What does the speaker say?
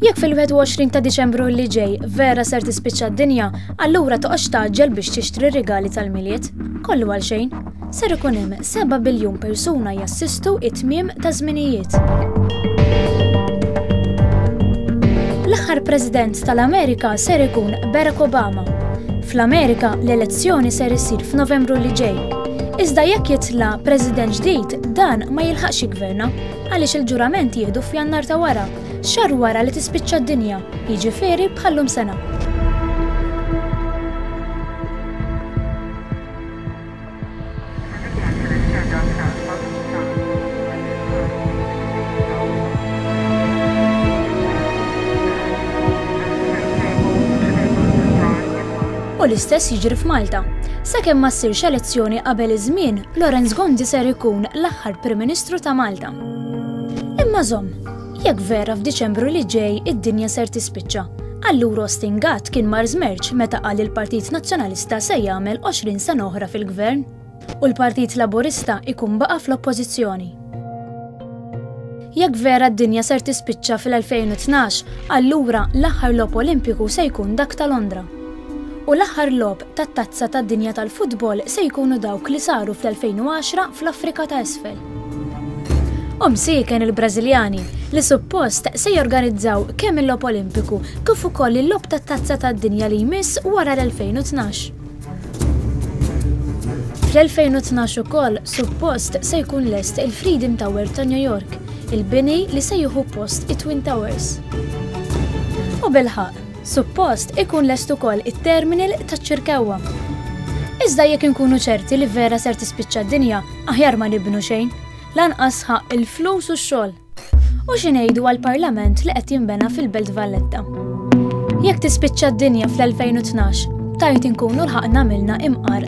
Jekk fil-21 ta' Diċembru li ġej vera ser tispiċċa d-dinja, allura toqgħodx taġġel biex tixtri r-rigali tal-Milied. Kollu għal xejn. Ser ikun hemm 7 biljun persuna jassistu it-tmiem ta' żminijiet. L-aħħar President tal-Amerika ser ikun Barack Obama. Fl-Amerika l-elezzjoni ser issir f'Novembru li ġej. Iżda jekk jitla' President ġdid dan ma jilħaqx jiggverna. Għaliex il-ġurament jieħdu f'Jannar ta' wara, xahar wara li tispiċċa d-dinja, jiġifieri bħal-lum sena. U l-istess jiġri f'Malta. Sakemm ma ssirx elezzjoni qabel iż-żmien, Lawrence Gonzi ser ikun l bħal Prim Ministru ta' Malta. Imma żomm, jekk vera f'Diċembru li ġej id-dinja ser tispiċċa, allura Austin Gatt kien mar żmerġ meta qal il-Partit Nazzjonalista se jagħmel 20 sena oħra fil-Gvern u l-Partit Laburista ikun baqa' fl-Oppożizzjoni. Jekk vera d-dinja ser tispiċċa fil-2012, allura l-aħħar lob Olimpiku se jkun dak ta' Londra. U l-aħħar lob tat-Tazza tad-Dinja tal-Futbol se jkunu dawk li saru fl-2010 fl-Afrika ta' Isfel. U msieken il-Brażiljani, li suppost se jorganizzaw kemm il-Logħob Olimpiku kif ukoll il-Logħob tat-Tazza tad-Dinja li jmiss wara l-2012. Fl-2012 ukoll suppost se jkun lest il-Freedom Tower ta' New York, il-bini li se jieħu post it-Twin Towers. U bilħaqq, Suppost ikun lest ukoll it-terminal taċ-Ċirkewwa. Iżda jekk inkunu ċerti li vera ser tispiċċa d-dinja, aħjar ma nibnu xejn. Lanqas sħaq il-flus u x-xogħol. U xi ngħidu għall-Parlament li qed jinbena fil-Belt Valletta. Jekk tispiċċa d-dinja fl-2012, tajt inkunu lħaqna għamilna imqar